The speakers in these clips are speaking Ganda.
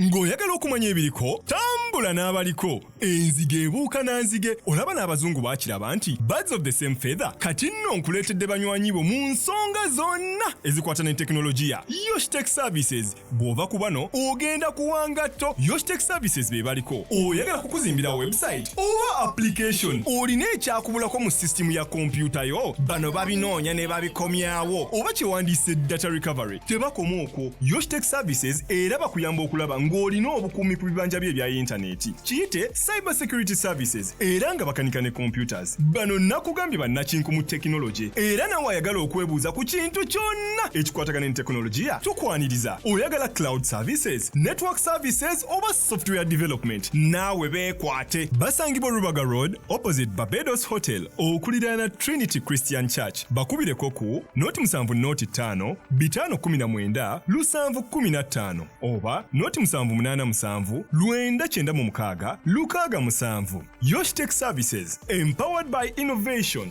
ng'oyagala okumanya ebiriko tambula n'abaliko enzige ebuuka na nzige olaba n'abazungu bakiraba nti birds of the same feather kati nno nkuleetedde banywanyi bo mu nsonga zonna ezikwata ne tekinologiya yoshtek services bw'ova ku bano ogenda kuwangatto yoshtek services be baliko oyagala kukuzimbira website oba application olina ekyakubulako mu sisitimu ya kompyuta yo bano babinoonya ne babikomyawo oba kyewandiise data recovery Tebakoma okwo, Yoshtech Services era bakuyamba okulaba ng'olina obukuumi ku bibanja byo ebya yintaneeti. Kiyite Cyber Security Services era nga bakanika ne computers. Bano nakugambye bannakinku mu tekinologye era nawe ayagala okwebuuza ku kintu kyonna ekikwatagana ne tekinologiya tukwaniriza. Oyagala cloud services, network services oba software development naawe beekwate. Basangibwa Rubaga Road opposite Barbados Hotel okuliraana Trinity Christian Church. bakubireko ku noti musanvu noti ttaano bitaano kumi na mwenda lusanvu kumi na ttaano oba noti musanvu munaana musanvu lwenda kyenda mu mukaaga lukaaga musanvu yoshtech services empowered by innovation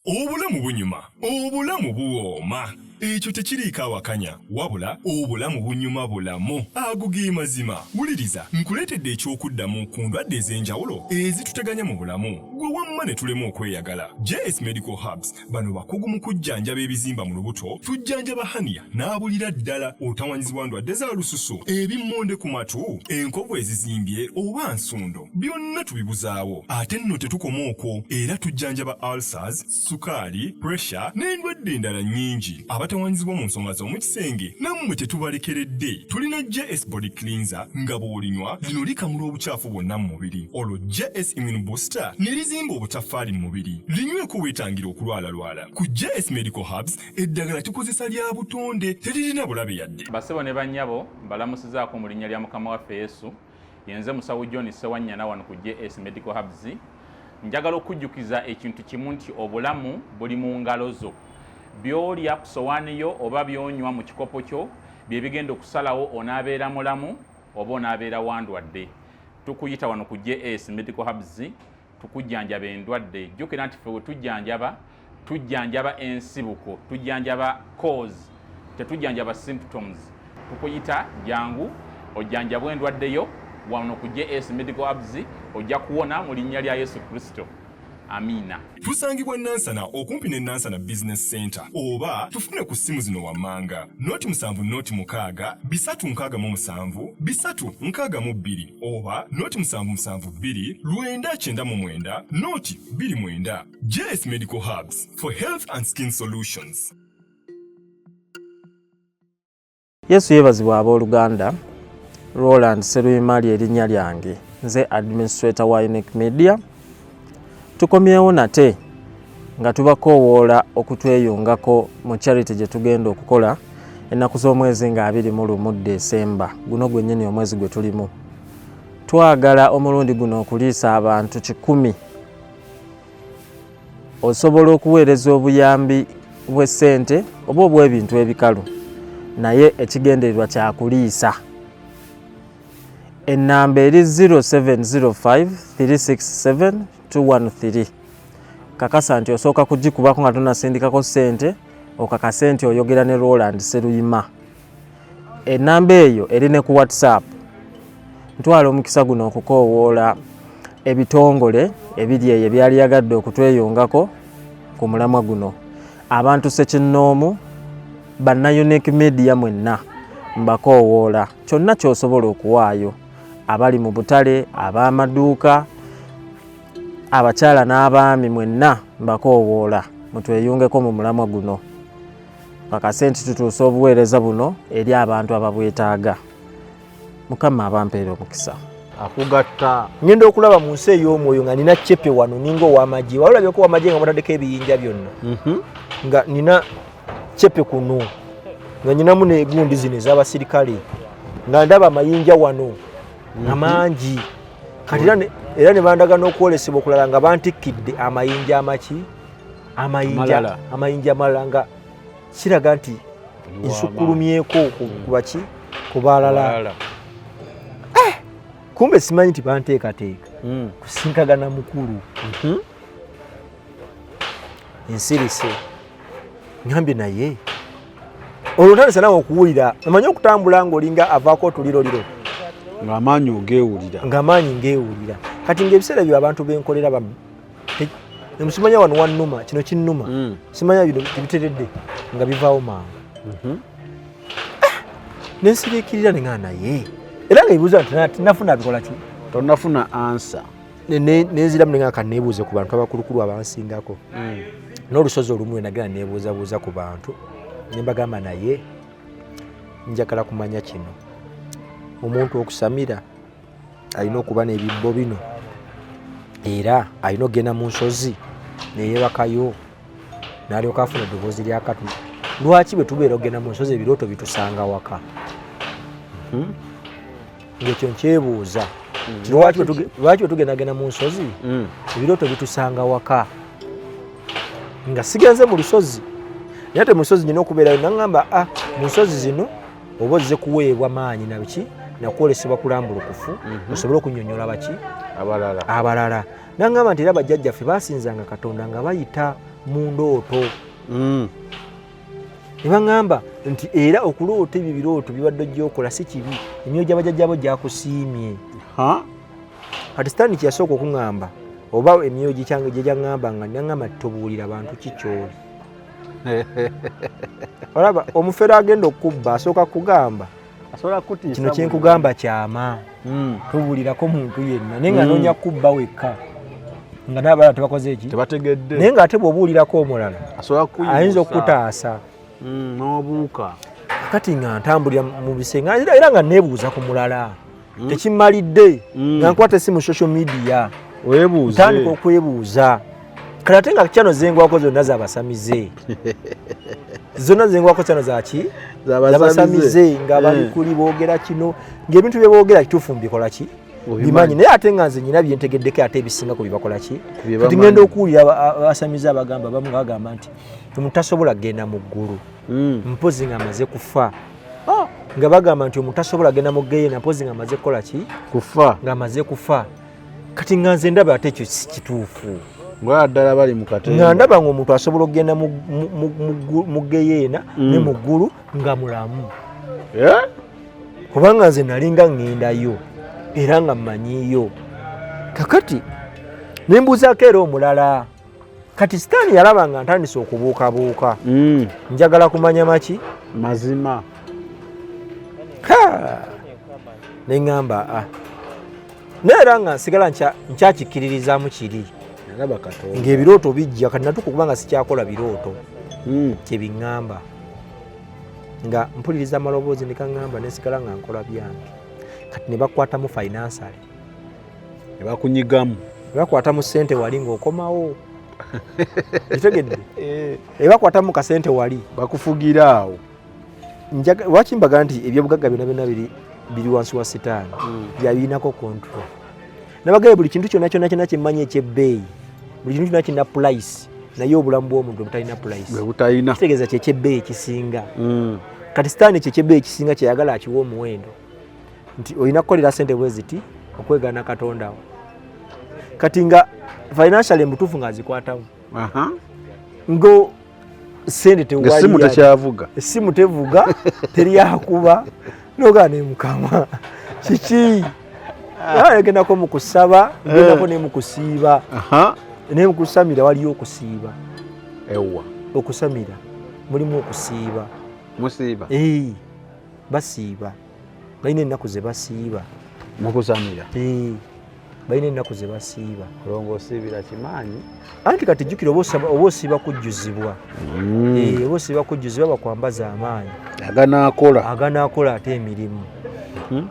obulamu bunyuma obulamu buwooma ekyo tekiriiko awakanya wabula obulamu bunyuma bulamu ago ge mazima wuliriza nkuleetedde eky'okuddamu ku ndwadde ez'enjawulo ezituteganya mu bulamu gwe wamma ne tulema okweyagala js medical hubs bano bakugu mu kujjanjaba ebizimba mu lubuto tujjanjaba haniya n'abulira ddala otawanyizibwa ndwadde za lususu ebimmonde ku matu enkovu ezizimbye oba nsundo byonna tubibuzaawo ate nno tetukoma okwo era tujjanjaba ulcers sukaali puresha n'endwadde endala nnyingi abatawaanyizibwa mu nsonga z'omu kisenge nammwe tetubalekeredde tulina js body cleanser nga bw'olinywa lino likamula obucaafu bwonna mu mubiri olwo js immune booster ne lizimba obutaffaali mu mubiri linyweko weetangira okulwalalwala ku js medical hubs eddagala tukozesa lya butonde teririna bulabe yadde basebo ne bannyabo mbalamusizaako mu linnya lya mukama waffe yesu yenze musawo john sewanyana wano ku js medical hubs njagala okujjukiza ekintu kimu nti obulamu buli mu ngalo zo byolya ku sowaani yo oba byonywa mu kikopo kyo bye bigenda okusalawo onaabeera mulamu oba onaabeera wandwadde tukuyita wano ku js medical hubs tukujjanjaba endwadde jjukira nti fe wetujjanjaba tujjanjaba ensibuko tujjanjaba cause tetujjanjaba symptoms tukuyita jangu ojjanjabwa endwadde yo wano ku js medical abs ojja kuwona mu linnya lya yesu kristo amiina tusangibwa nansana okumpi ne nansana business center oba tufune ku ssimu zino wammanga noti musanvu noti mukaaga bisatu nkaaga mu musanvu bisatu nkaaga mu bbiri oba noti musanvu musanvu bbiri lwenda kyenda mu mwenda noti bbiri mwenda jeles medical hubs for health and skin solutions yesu yeebazibwa abooluganda roland seruyimali erinnya lyange nze administrator wa unique media Tukomyewo nate nga tubakoowoola okutweyungako mu charity gye tugenda okukola ennaku z'omwezi nga abiri mu lumu Desemba guno gwennyini omwezi gwe tulimu. Twagala omulundi guno okuliisa abantu kikumi. Osobola okuweereza obuyambi bw'essente oba obw'ebintu ebikalu naye ekigendererwa kya kuliisa. ennamba eri 0705367213 kakasa nti osooka kugikubako nga tonasindikako ssente okakase nti oyogera ne roland seruyima ennamba eyo eri ne ku whatsapp ntwala omukisa guno okukoowoola ebitongole ebiri eyo ebyali yagadde okutweyungako ku mulamwa guno abantu sekinnoomu banna unique media mwenna mbakoowoola kyonna kyosobola okuwaayo abali mu butale ab'amaduuka abakyala n'abaami mwenna mbakoowoola mutweyungeko mu mulamwa guno kakase nti tutuusa obuweereza buno eri abantu ababwetaaga mukama abampeera omukisa akugatta ngenda okulaba mu nsi ey'omwoyo nga nina cepe wano ninga owamagye wali olabyeko wamagye nga mutadeko ebiyinja byonna mhm. nga nina kyepe kuno nga nyinamu negundi zino ezabasirikale nga ndaba amayinja wano nga mhm. mangi kati era ne bandaga n'okwolesebwa okulala nga bantikkidde amayinja amaki amayinja amalala nga kiraga nti nsukulumyeko kubaki mm. kubalala eh! kumbe simanyi nti banteekateeka mm. kusinkagana mukulu mhm. nsirise ngambye naye olwo ntandise nawe okuwulira omanyi okutambula ngaolinga avaako otuliroliro ngaamaanyi ogewulira ngaamaanyi ngewulira kati ngaebiseera byo abantu benkolera bamu emusimanya wano wanuma kino kinuma mm. simanya bino tebiteredde nga bivaawo mangu mhm. ah! nensiriikirira nengaa naye era nga ebibuuza nti nafuna bikolaki tonafuna ansa nenziramu ne, ne, nengaka nebuuze ku bantu abakulukulu abansingako mm. n'olusozi olumu enagera nebuuzabuuza ku bantu nembagamba naye njagala kumanya kino omuntu okusamira alina okuba n'ebibbo bino era alina okugenda mu nsozi neyebakayo nalyoka afuna eddoboozi lya katuli lwaki bwe tubeera okugenda mu nsozi ebirooto bitusanga waka hmm? ngekyo nkyebuuza hmm. lwaki wetugendagenda mu nsozi hmm. ebirooto bitusanga waka nga sigenze mu lusozi naye te mu nsozi nyina okubeerayo naŋamba a ah, mu nsozi zino oba ozze kuweebwa maanyi nabiki nakwolesebwa kulambulukufu mhm. osobole okunyonyola baki abalala naŋamba nti era bajjajjaffe basinzanga katonda nga bayita mu ndooto hmm. ne baŋŋamba nti era okuloota ebyo birooto bibadde ogyokola si kibi emyoyo gy'abajajjabo gyakusiimye kati sitaani kyeyasooka okuŋŋamba oba emyoyo gikyange gye gyaŋŋamba nga naŋŋamba nti tobuulira bantu ki kyoli olaba omufere agenda okukubba asooka kugamba kino kyenkugamba kyama hmm. tubulirako muntu yenna naye nga hmm. nonya kubba wekka nga nabalala tebakoze eki tebategedde naye nga ate bwobuulirako omulala ayinza okukutaasa hmm, nobuuka kati nga ntambulira mu bisenge era nga nebuuza ku mulala hmm? tekimalidde hmm. nga nkwata esimu social media ntandika okwebuuza kale ate nga kyano zengwako zonna zabasamize zonna zengwako kyano zaki zabasamize nga balikuli hmm. boogera kino ngaebintu byeboogera kituufu mubikolaki bimanyi naye ate nga nze nyina byentegeddeko ate ebisinga ku bibakolaki kati ngenda okuwulira abasamize abagamba bamu bagamba nti mutasobola kugenda mu ggulu mpozi nga amaze kufa oh. nga bagamba nti omuntu asobola agenda mu geyena mpozi nga amaze kukola ki kufa nga amaze kufa kati nga nze ndaba ate ekyo sikituufu ngaddala bali mukatnga ndaba nga omuntu asobola okugenda mu geyeena mm. ne mu ggulu nga mulamu eh? kubanga nze nalinga ŋŋendayo era nga mmanyiyo kakati ne mbuuzaako era omulala kati sitaani yalaba nga ntandise okubuukabuuka mm. njagala kumanya maki mazima neŋamba a ah. naye era nga nsigala nkyakikkiririzaamu kiri ng'ebirooto bijja kati natuka okuba nga sikyakola birooto mm. kyebiŋamba nga mpuliriza amaloboozi nekaŋamba nesigala nga nkola byange kati nebakwatamu finansale ne bakunyigamu ne bakwata mu ssente wali ng'okomawo kitegedde eh. ne bakwata mu kasente wali bakufugira awo lwaki mbaga nti ebyobugagga byona byona biri wansi wa sitaani hmm. byabirinako kontrol nabagaye buli kintu kyona kyona kyona kyemmanyi ekyebbeeyi buli kintu kyona kirina pulayisi naye obulamu bwomuntu obutalina pulayisitegeeza kyekyebbeeyi ekisinga hmm. kati sitaani kyekyebbeeyi ekisinga kyeyagala akiwa omuwendo nti olina kukolera sente bwe ziti okwegana katonda wo kati nga financial embutuufu nga azikwatamu ngo sente tewalimu tekyavuga essimu tevuga teryakuba nogaa nemukama kiki agendako ah. mukusaba gendako eh. nemukusiiba naye mukusamira waliyo okusiiba ewa okusamira mulimu okusiiba musiiba basiiba balina ennaku ze basiiba mukusamira eh, balina ennaku ze basiiba olonga osiibira kimaanyi anti kati jjukira oba osiiba kujjuzibwa mm. eh, oba osiiba kujjuzibwa bakwambaza amaanyi aganaakola aganaakola ate emirimu hmm?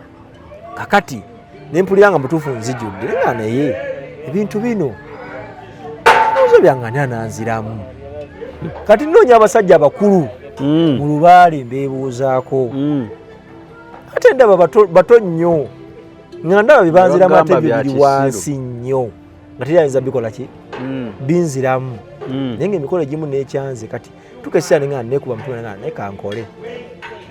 kakati ne mpulira nga mutuufu nzijudde nga naye ebintu bino ozo byangani ananziramu kati nnoonya abasajja abakulu hmm. mu lubaale mbeebuuzaako hmm. ate ndaba bato nnyo nga ndaba bibanzira amatege biri wansi nnyo nga teri ayinza bikola ki hmm. binziramu naye nga emikolo egimu nekyanze kati tuka ekiseera nengana nekuba mutwe nengana naye kankole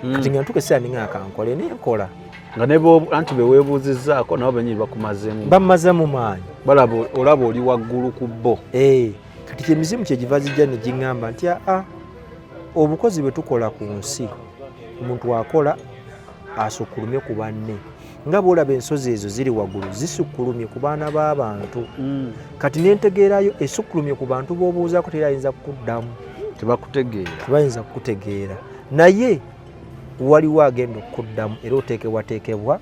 hmm. kati nga ntuka ekiseera nengana kankole naye nkola nga anti beweebuuzizzaako nabo benyini bakumazeemu bammazeemu maanyi balaba olaba oli waggulu ku bo eh, kati kyemizimu kyegiva zijja negiŋŋamba nti aa ah, ah, obukozi bwe tukola ku nsi omuntu akola asukulume ku banne nga bwolaba ensozi ezo ziri waggulu zisukkulumye ku baana b'abantu mm. kati nentegeerayo esukkulumye ku bantu b'obuuzaako teri ayinza kukuddamu tebakutegeeratebayinza kukutegeera naye waliwo agenda okukuddamu era oteekebwateekebwa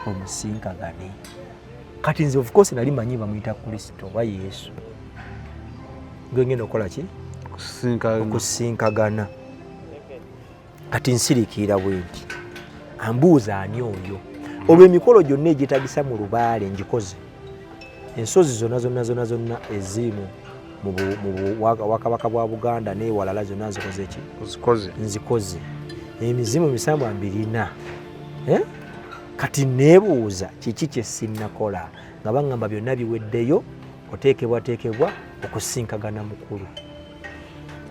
omusinkagane kati nze ofcourse nali manyi bamuyita kristo oba yesu ngengenda okukola ki okusinkagana kati nsirikiira bwenti ambuuza ani oyo olwo emikolo gyonna egyetagisa mu lubaale ngikoze ensozi zonna zonna zonna zonna eziimu wakabaka bwa buganda newalala zonna nzikoze ki nzikoze emizimu misambwa mbirina eh? kati nebuuza kiki kyesinakola nga baŋamba byonna biweddeyo oteekebwateekebwa okusinkagana mukulu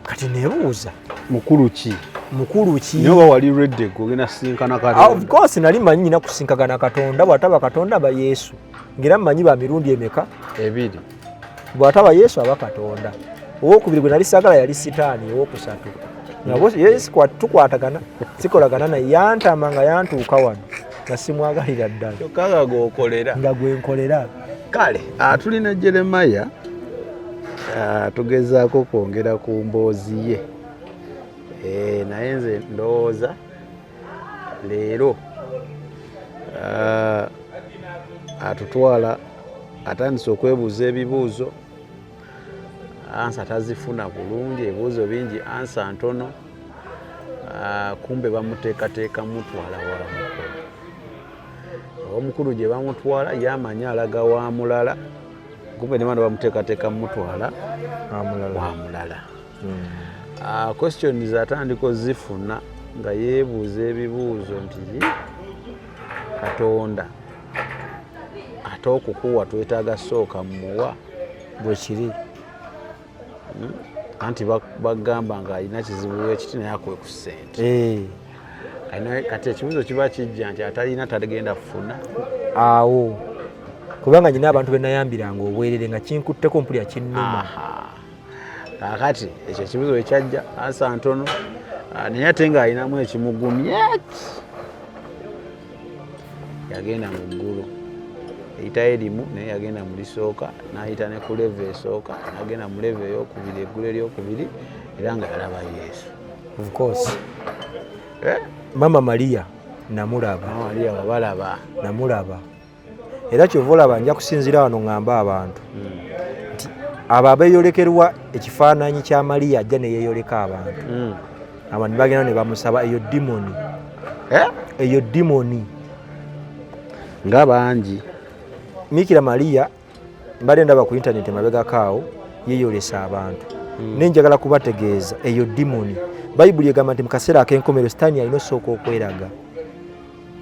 kati nebuuza mukulu ki mukulu ki naye oba wali redde ogenda kusinkana katonda of course nali manyi nyina kusinkagana katonda bwataba katonda ba yesu ngira manyi ba mirundi emeka ebiri bwataba yesu aba katonda owokubiri gwe nali sagala yali sitaani owokusatu nabo yesu tukwatagana sikolagana naye yantama nga yantuuka wano nga simwagalira ddala nga gwenkolera kale ah, tulina jeremaya ah, tugezaako kwongera ku mboozi ye eh, naye nze ndowooza leero ah, atutwala atandise okwebuuza ebibuuzo ansa tazifuna bulungi ebibuuzo bingi ansa ntono kumbe bamuteekateeka mutwala wala mukulu omukulu gye bamutwala yamanyi alaga wa mulala kumbe nemana bamuteekateeka mumutwala wa mulala hmm. ah, questions atandika ozifuna nga yeebuuza ebibuuzo nti katonda ate okukuwa twetaaga sooka muwa bwekiri hmm? anti bagamba nga alina kizibu ekiti naye akuwe ku sente eh. kati ekibuzo kiba kijja nti atalina tagenda kufuna awo kubanga nyina abantu benayambiranga obwerere nga kinkutteko mpulira kinnuma kakati ekyo ekibuzo ekyajja ansa ntono ah, naye ate ng'alinamu ekimugumye yagenda mu ggulu eyitayo erimu naye yagenda mu lisooka n'ayita ne ku leva esooka n'agenda mu leva eyokubiri eggulu eryokubiri era nga yalaba yesu ofcourse eh? mama maria namulaba maria wabalaba namulaba era kyova olaba nja kusinzira wano ŋŋamba abantu hmm. nti abo abeeyolekerwa ekifaananyi kya maria ajja neyeyoleka abantu hmm. abantu bagenda ne bamusaba eyo dimoni eh? eyo dimoni nga bangi mikira maria mbadde ndaba ku intaneti emabegako awo yeyolesa abantu hmm. naye njagala kubategeeza eyo dimoni bayibuli egamba nti mu kaseera ak'enkomero sitaani alina osooka okweraga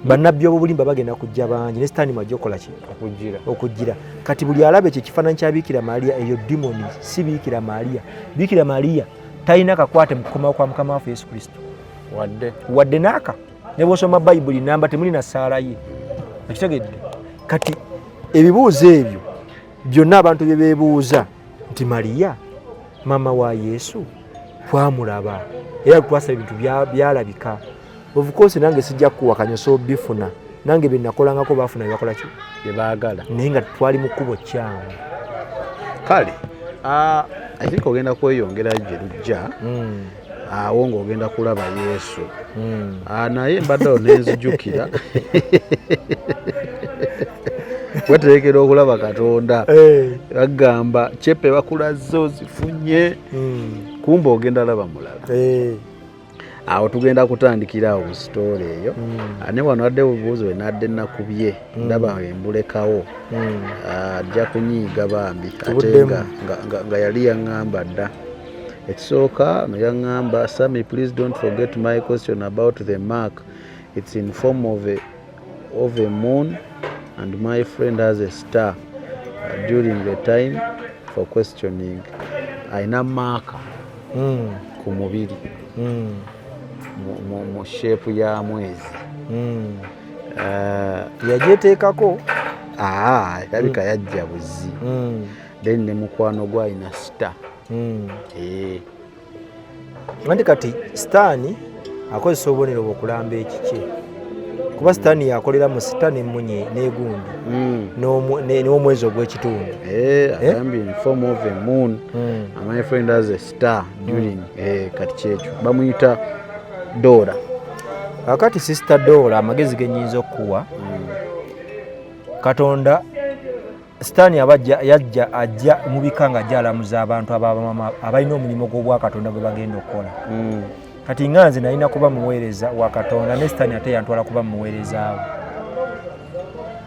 bannabbi obubulimba bagenda kujja bangi ne sitaani mwajja okukola ki okujjira kati buli alaba ekyo ekifaananyi kya biikira maaliya eyo dimoni si biikira maaliya biikira maaliya talina kakwate mu kukomawo kwa mukama waffe yesu kristo wadde wadde naaka ne bwosoma bayibuli namba temuli na ssaala ye okitegedde kati ebibuuzo ebyo byonna abantu bye beebuuza nti maaliya maama wa yesu twamulaba era twasaba ebintu byalabika bya of course nange sijja kuwakanya so bifuna nange byenakolangako bafuna byebakola ki byebagala naye nga twali mu kkubo kyamu kale ah, i think ogenda kweyongera gye lujja hmm. awo ah, ng'ogenda kulaba yesu hmm. ah, naye mbadde awo nenzijukira weterekera okulaba katonda eh. agamba cepe bakulazze ozifunye hmm. kumba ogenda laba mulala eh. awo tugenda kutandikira awo mu sitoola eyo hmm. ah, ne wano adde bubuuzi we nadde nakubye hmm. ndaba embulekawo hmm. ah, ajja kunyiiga bambi ate nga yali yaŋŋamba dda ekisooka no yaŋŋamba sami please don't forget my question about the mark its in form of a of a moon and my friend has a star uh, during the time for questioning alina maaka mm. ku mubiri mm. mu sheepu ya mwezi mm. uh, yajeteekako ah, alabika mm. yajja buzi mm. then ne mukwano gwalina star mm. eh. Mandi kati sitaani akozesa obubonero bwokulamba ekikye kuba sitaani yakolera mu sita nemunye negundi hmm. n'omwezi ogw'ekitundu eh, eh? hmm. hmm. eh, kati kyekyo bamuyita doora kakati sisita doora amagezi genyinza okukuwa katonda sitaani aba yajja ajja mu bika nga ajja alamuza abantu ababamama abalina omulimu gw'obwakatonda gwe bagenda okukola hmm. kati nga nze nalina kuba muweereza wa katonda ne sitaani ate yantwala kuba muweerezaawo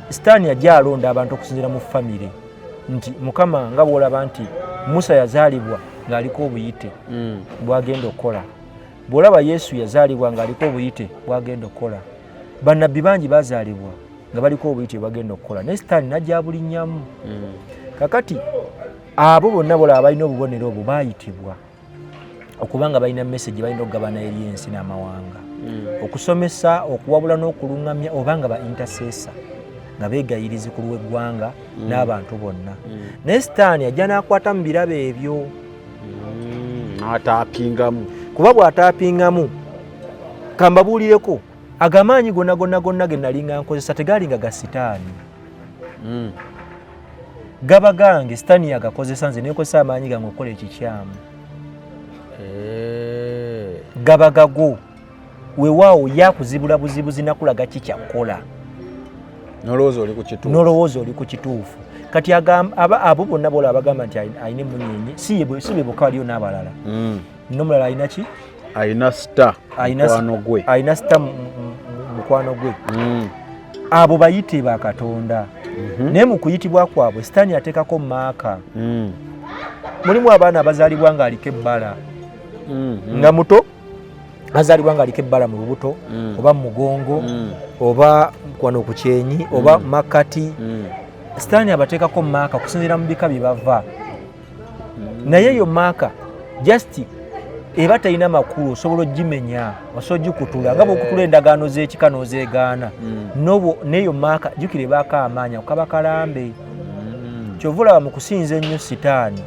sitaani ajja alonda abantu okusinzira mu famire nti mukama nga bwolaba nti musa yazaalibwa ng'aliko obuyite hmm. bwagenda okukola bwolaba yesu yazaalibwa ng'aliko obuyite bwagenda okukola bannabbi bangi bazaalibwa nga baliko obuyiti bwebagenda okukola naye sitaani najabulinyamu mm. kakati abo bonna bola abalina obubonero obwo bayitibwa okubanga balina message balina okugabana eri ensi n'amawanga mm. okusomesa okuwabula n'okulungamya oba nga ba intersesa nga begayirizi ku lw'eggwanga mm. n'abantu bonna naye sitaani ajja n'akwata mu birabo ebyo n'ataapingamu kuba bw'ataapingamu kambabuulireko ago amaanyi gonna gonna gonna ge nalinga nkozesa tegaalinga ga sitaani hmm. gaba gange sitaani yagakozesa nze nekozesa amaanyi gange okukola ekikyamu eh. gaba gago wewaawo yakuzibula buzibuzi nakulaga kikyakkola nolowooza oli ku kituufu kati abo bonna bola abagamba nti alina emunyenye si bebokaliyo n'abalala hmm. nomulala alina ki alina star mukwano gwe alina star mukwano gwe mm. abo bayite ba katonda mhm. naye mu kuyitibwa kwabwe sitaani ateekako maaka mm. mulimu abaana abazaalibwa ng'aliko ebbala mhm. nga muto azaalibwa ng'aliko ebbala mu lubuto mm. oba mu mugongo oba kwano ku kyenyi oba makkati sitaani abateekako maaka kusinziira mu bika bye bava naye eyo maaka just eba talina makulu osobola ogimenya osobola ogikutula nga bwokutula endagaano z'ekika n'ozeegaana mm. neyo maaka jukira ebaako amaanya kukaba kalambe mm. kyova olaba mu kusinza ennyo sitaani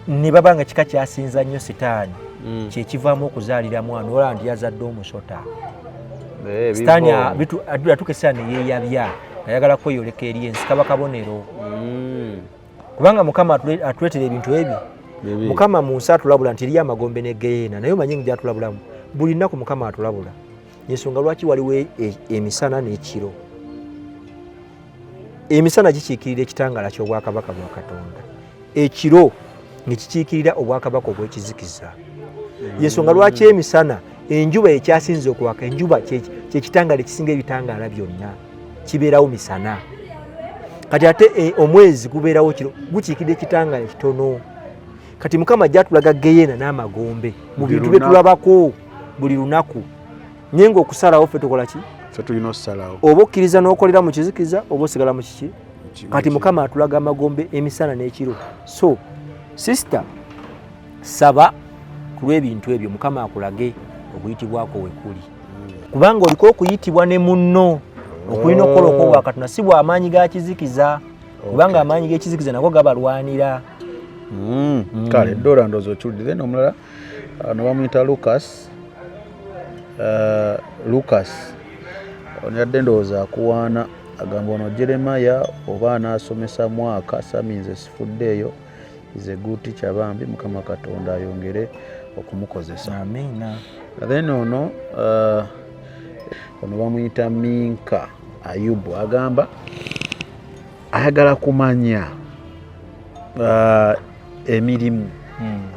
ne baba nga kika kyasinza nnyo sitaani mm. kyekivaamu okuzaalira mwana olaba nti yazadde omusota eh, sitaani atukesaa neyeyabya ayagala kweyoleka eri ensi kaba kabonero kubanga mukama atuletera ebintu ebyo mukama mu nsi atulabula nti eriyo amagombe ne geyeena naye omanyi gyatulabulamu buli nnaku mukama atulabula yensonga lwaki waliwo e, e, emisana n'ekiro emisana gikiikirira ekitangaala ky'obwakabaka bwa katonda ekiro nekikiikirira obwakabaka obw'ekizikiza yensonga lwaki emisana enjuba ekyasinza okwaka enjuba kyekitangaala ekisinga ebitangaala byonna kibeerawo misana kati ate eh, omwezi gubeerawo kiro gukiikidde ekitangaala kitono kati mukama jatulaga geyena n'amagombe mu bintu bye tulabako buli lunaku naye ngaokusalawo ffe tukola ki oba okkiriza n'okolera mu kizikiza oba osigala mu kiki kati mukama atulaga amagombe emisana n'ekiro so sister saba ku lw'ebintu ebyo mukama akulage okuyitibwako wekuli kubanga oliko okuyitibwa ne munno okulina okukola okwowa katonda si bwamaanyi ga kizikiza kubanga amaanyi g'ekizikiza nago gabalwanira hmm. Hmm. kale dora ndozi okiwulidde nomulala ah, nobamuyita lucas ah, lucas onyadde ndowooza akuwaana agamba ono jeremaya oba anaasomesa mwaka saminze sifuddeeyo is a good teacher bambi mukama katonda ayongere okumukozesa amina then ono uh, ono bamuyita minka ayubu agamba ayagala kumanya uh, emirimu hmm.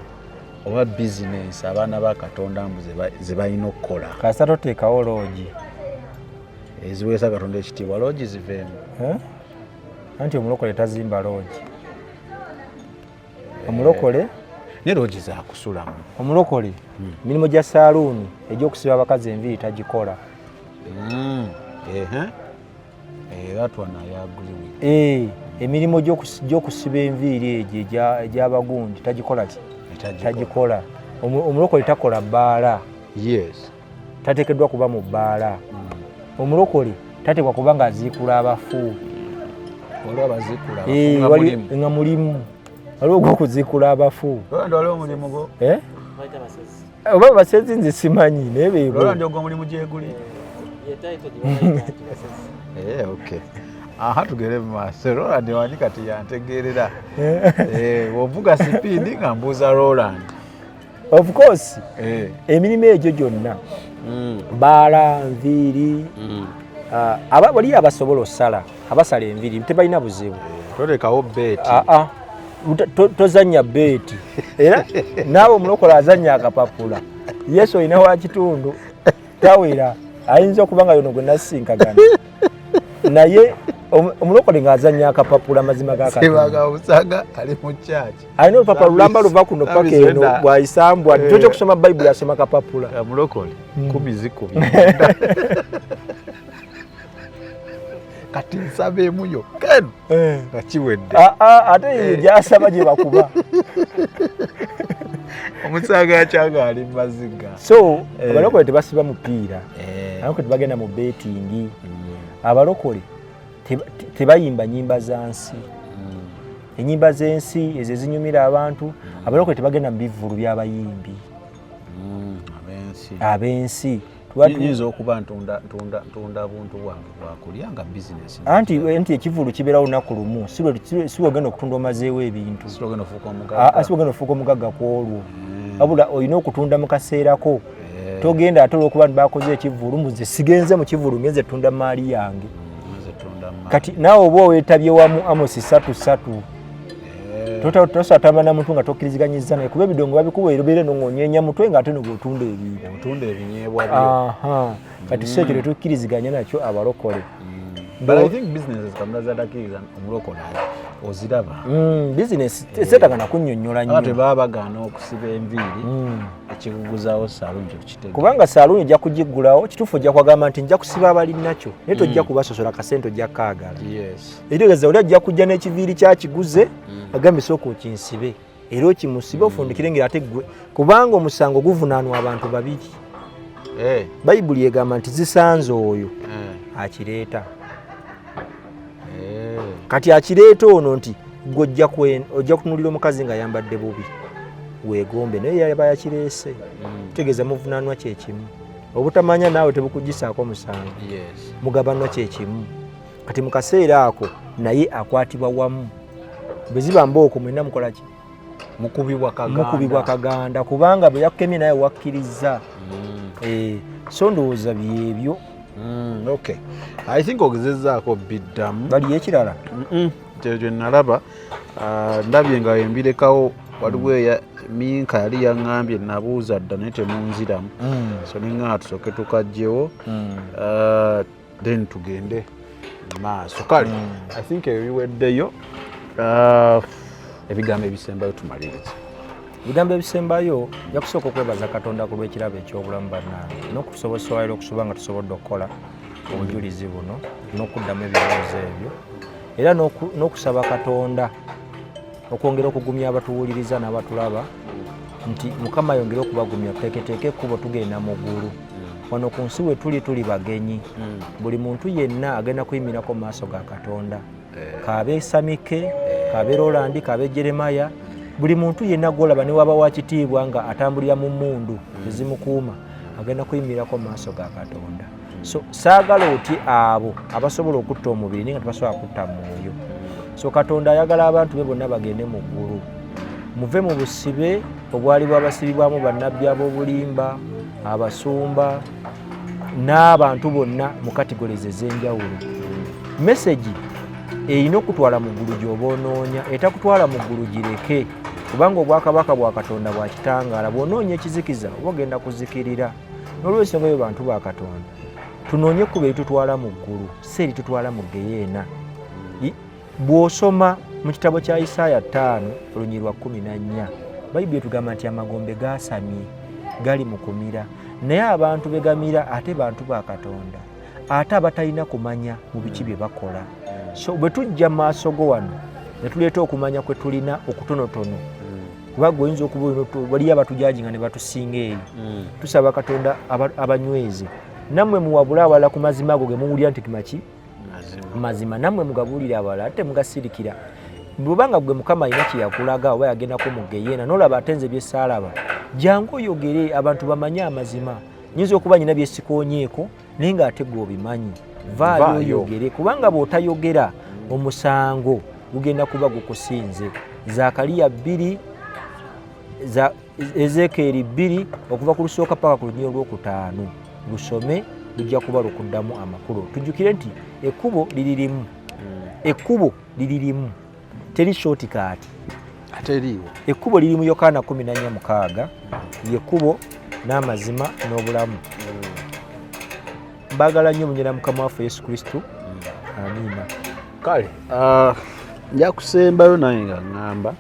oba bizinesi abaana ba katonda mbu zebalina okukola kasa toteekawo loogi eziweesa katonda ekitiibwa loogi ziveemu eh? anti omulokole tazimba loogi omulokole eh, ne loogi zakusulamu omulokole hmm. emirimu gya saaluuni egyokusiba abakazi enviiri tagikola hmm. eh, emirimu gyokusiba enviiri egyo egyabagundi tagikola ki tagikola omulokole takola bbaala yes tateekeddwa kuba mu bbaala omulokole tateekwa kuba nga aziikula abafu nga mulimu waliwo ogwokuziikula abafu eh? oba basezi nze simanyi naye beeomulimu gyeguli eh, aha tugere mu maaso roland wani kati yantegeerera eh. ovuga sipiidi nga mbuuza roland of course eh. emirimu egyo gyonna mm. baala nviiri mm. ah, waliyo abasobola osala abasala enviiri tebalina buzibu eh, tolekawo beeti ah, ah. tozanya beeti era naawe omulokola azanya akapapula yesu olina wakitundu tawera ayinza okuba nga yono gwe nasinkagana naye omulokole ng'azanya akapapula amazima gakatanga ali mu kyaki alina olupapula lulamba luva kuno paka eno bwayisambwa eh. kyoja okusoma bayibuli asoma kapapula eh, mulokole hmm. kumi zikumi kati nsaba emu yokka eno eh. nga kiwedde ah, ah, ate eyo gyasaba gye bakuba omusaga yakyanga ali mumaziga so abalokole tebasiba mupiira abalokole tebagenda mu betingi hmm. abalokole tebayimba nyimba za nsi mm. enyimba z'ensi ezo ezinyumira abantu mm. abalokole tebagenda mu bivvulu by'abayimbi mm, ab'ensi yinza okuba ntunda buntu bwange bwakulya nga bizinesi anti nti ekivulu kibeera lunaku lumu si wegenda okutunda omazeewo ebintu si wegenda ofuuka omugagga ku olwo wabula olina okutunda mu kaseerako eh. togenda ate olwokuba nti bakoze ekivulu muze sigenze mu kivulu ngenze tunda maali yange mm, kati naawe oba owetabye wamu amosi satu satu eh. tosatamba na muntu nga tokkiriziganyiza naye kuba ebidongo babikuwa erobeere nongonyenya mutwe nga ate nobwotunda ebintu kati si ekyo tetukkiriziganya nakyo abalokole but i think businesses kamula zadakiza omulokole oziraba mm, business setaka nakunyonyola nnyo ate baba bagaana okusiba enviiri mm. ekikuguzawo saluuni kyokitega kubanga saluuni ojja kugiggulawo kituufu ojja kwagamba nti nja kusiba abali nakyo naye tojja mm. kubasosola kasente ojja kaagala ekitegeeza oli ajja kujja n'ekiviiri kyakiguze agambisa oku kinsibe era okimusibe ofundikire ngeri ate ggwe kubanga omusango guvunaanwa abantu babiri eh. bayibuli egamba nti zisanze oyo eh. akireeta eh. kati akireeta ono nti gwe ojja kutunulira omukazi nga yambadde bubi wegombe naye yaba yakireese mm. tutegeeza muvunaanwa kyekimu obutamanya naawe tebukugisaako musango mugabanwa kyekimu kati mu kaseera ako naye akwatibwa wamu bwe ziba mbooko mwena mukola ki mukubibwa kaganda kubanga bwe yakukemye naye wakkirizza mm. eh, so ndowooza byebyo mm, okay i think ogezezaako biddamu baliyo ekirala kye nalaba ah, ndabye nga embirekawo waliwo eya minka yali yaŋŋambye nabuuza dda naye temunziramu mm. so ningaa tusooke tukajjewo mm. ah, then tugende maaso kale hmm. i think ebyo biweddeyo uh, ebigambo ebisembayo tumaliriza ebigambo ebisembayo jakusooka okwebaza katonda ku lw'ekirabo eky'obulamu bannange n'okutusobosewayira okusuba nga tusobodde okukola obujulizi buno n'okuddamu ebibuuzo ebyo era n'okusaba katonda okwongera okugumya abatuwuliriza n'abatulaba nti mukama ayongere okubagumya tuteeketeeke ekkubo tugenda mu ggulu mm. wano ku nsi we tuli tuli bagenyi mm. buli muntu yenna agenda kuyimirako mu maaso ga katonda eh. kaabe samike eh. kaabe rolandi kaabe jeremaya buli muntu yenna gwolaba ne waba wakitiibwa nga atambulira mu mundu mm. ezimukuuma agenda kuyimirako mu maaso ga katonda so saagala otye abo abasobola okutta omubiri naye nga tebasobola kutta mwoyo so katonda ayagala abantu be bonna bagende mu ggulu muve mu busibe obwali bwabasibibwamu bannabbi ab'obulimba abasumba n'abantu bonna mu katigolezi ez'enjawulo mesegi erina okutwala mu ggulu gy'oba onoonya etakutwala mu ggulu gireke kubanga obwakabaka bwa katonda bwa kitangaala bw'onoonya ekizikiza oba ogenda kuzikirira n'olwekyo ngayo bantu ba katonda tunoonye kuba eritutwala mu ggulu si eritutwala mu geyeena bw'osoma mu kitabo kya isaaya ttaano olunyiri lwa kkumi na nnya bayibuli etugamba nti amagombe gaasamye gali mu kumira naye abantu begamira ate bantu ba katonda ate abatalina kumanya mu biki bye bakola so bwe tujja mu maaso go wano ne tuleeta okumanya kwe tulina okutonotono kubanga oyinza okuba waliyo abatujaji nga ne batusinga eyo hmm. tusaba katonda abanyweze nammwe muwabule awalala ku mazima ago ge muwulira nti tumaki mazima nammwe mugabuulire awalala ate mugasirikira bwebanga gwe mukama alina kyeyakulaga oba yagendako mu geyeena nolaba ate nze byesaalaba jangu oyogere abantu bamanye amazima nyinza okuba nyina byesikonyeeko naye ng'ate gwe obimanyi vaayo oyogere kubanga bw'otayogera omusango gugenda kuba gukusinze zakaliya bbiri ezekeeri bbiri okuva ku lusooka paka ku lunyiro lwokutaano lusome lujja kuba lukuddamu amakulu tujjukire nti ekkubo liri limu hmm. ekkubo liri limu teri shoti kaati ateriiwo ekkubo liri mu yokaana 14 yekkubo n'amazima n'obulamu mbagala nnyo munyera mukama waffe yesu kristo amiina kale ah, nja kusembayo naye nga ŋŋamba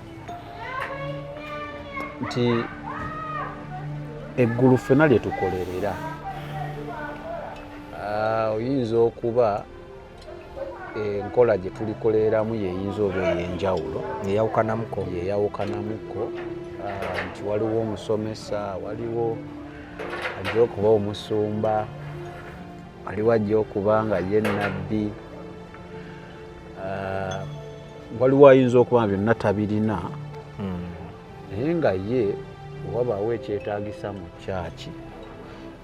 nti eggulu ffena lye tukolerera ah, oyinza okuba enkola gye tulikoleramu yeyinza oba eyenjawulo eyawukanamuko yeyawukanamuko ah, nti waliwo omusomesa waliwo ajja okuba omusumba waliwo ajja okuba nga ye nabbi ah, waliwo ayinza okuba byonna tabirina hmm. naye nga ye wabaawo ekyetaagisa mu kyaki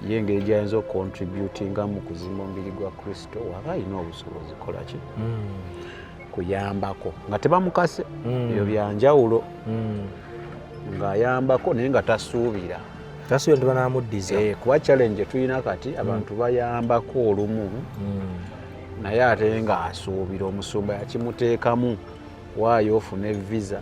ye engeri gyayinza okukontributinga mu kuzimba omubiri gwa kristo waba alina obusobozi kolaki hmm. kuyambako nga tebamukase hmm. ebyo byanjawulo hmm. ng'ayambako naye nga tasuubira tasuubira nti banamuddiza eh, kuba challenge tulina kati abantu bayambako olumu naye ate ng'asuubira omusumba yakimuteekamu waayo ofune visa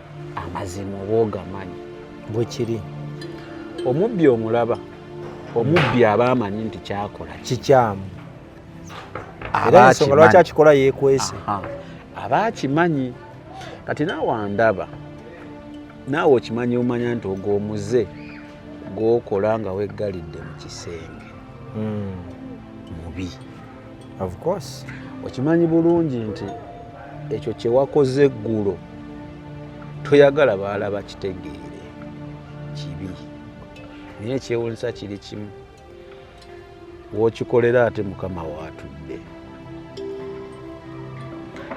amazima oba ogamanyi bwe kiri omubbi omulaba omubbi aba amanyi nti kyakola kikyamu era ensonga lwaki akikola yekwese aba akimanyi kati naawe andaba naawe okimanyi omanya nti ogwo omuze gwokola nga weggalidde mu kisenge hmm. mubi of course okimanyi bulungi nti ekyo kyewakoze eggulo toyagala baalaba kitegeere kibi naye ekyewunyisa kiri kimu wokikolera ate mukama waatudde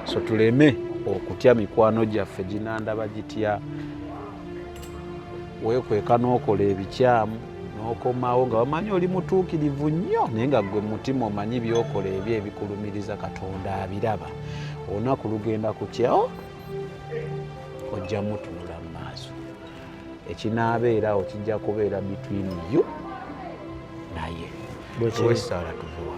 so tuleme okutya mikwano gyaffe ginandaba gitya wekweka n'okola ebikyamu n'okomawo nga wamanyi oli mutuukirivu nnyo naye nga gwe mutima omanyi byokola ebyo ebikulumiriza katonda abiraba olunaku lugenda kukyawo ojja mutunula mu maaso ekinaabeerawo kijja kubeera between you naye bwekisaala tuvuwa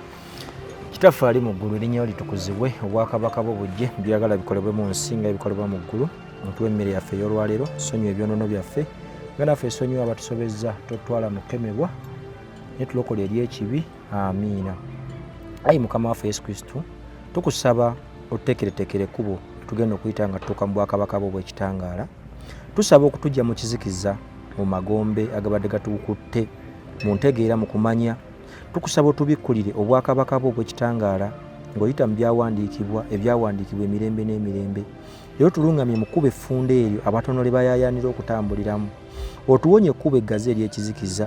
kitaffe ali mu ggulu erinnya litukuzibwe obwakabaka bwo bujje byagala bikolebwe mu nsi nga ebikolebwa mu ggulu mutuwa emmere yaffe ey'olwaleero sonyiwa ebyonono byaffe nga naffe esonyiwa abatusobezza totwala mukemebwa naye tulokola eri ekibi amiina ayi mukama waffe yesu kristu tukusaba otutekeretekere kubo tugenda okuyita nga tutuuka mu bwakabaka bwo obwekitangaala tusaba okutujja mu kizikiza mu magombe agabadde gatukutte mu ntegeera mu kumanya tukusaba otubikkulire obwakabaka bwo obwekitangaala ng'oyita mu byawandiikibwa ebyawandiikibwa emirembe n'emirembe Era otulungamye mu kkubo effunda eryo abatono lye bayaayaanira okutambuliramu. Otuwonye ekkubo eggazi ery'ekizikiza,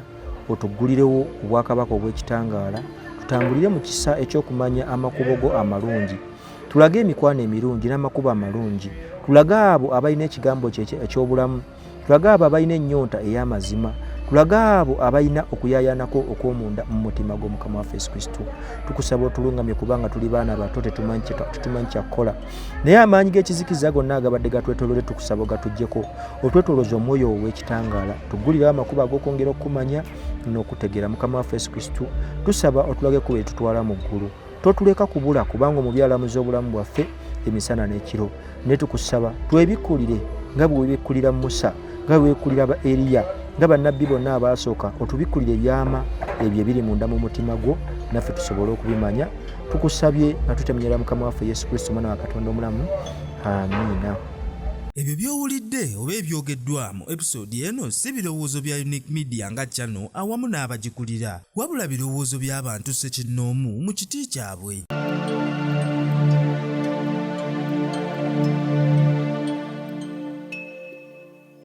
otuggulirewo obwakabaka obw'ekitangaala, tutambulire mu kisa eky'okumanya amakubo go amalungi. Tulage emikwano emirungi n'amakubo amalungi. Tulage abo abalina ekigambo kyo eky'obulamu. tulage abo abalina ennyonta ey'amazima tulage abo abalina okuyayanako okw'omunda mu mutima gw'omukama waffe yesu kristo tukusaba otulungamye kubanga tuli baana bato tetumanyi kyakukola naye amaanyi g'ekizikiza gonna agabadde gatwetolole tukusaba ogatujjeko otwetoloza omwoyo ow'ekitangaala tugulirawo amakubo ag'okwongera okukumanya n'okutegeera mukama waffe yesu kristo tusaba otulage kuba etutwala mu ggulu totuleka kubula kubanga omubi alamuza obulamu bwaffe emisana n'ekiro naye tukusaba twebikkulire nga bwe webikkulira musa nga bwe webikkulira ba eriya nga bannabbi bonna abaasooka otubikkulire ebyama ebyo ebiri munda mu mutima gwo naffe tusobole okubimanya tukusabye nga tutemunyera mukama waffe yesu kristo omwana wa katonda omulamu amiina ebyo by'owulidde oba ebyogeddwamu episoodi eno si birowoozo bya unique media nga channel awamu n'abagikulira wabula birowoozo by'abantu ssekinnoomu mu kiti kyabwe.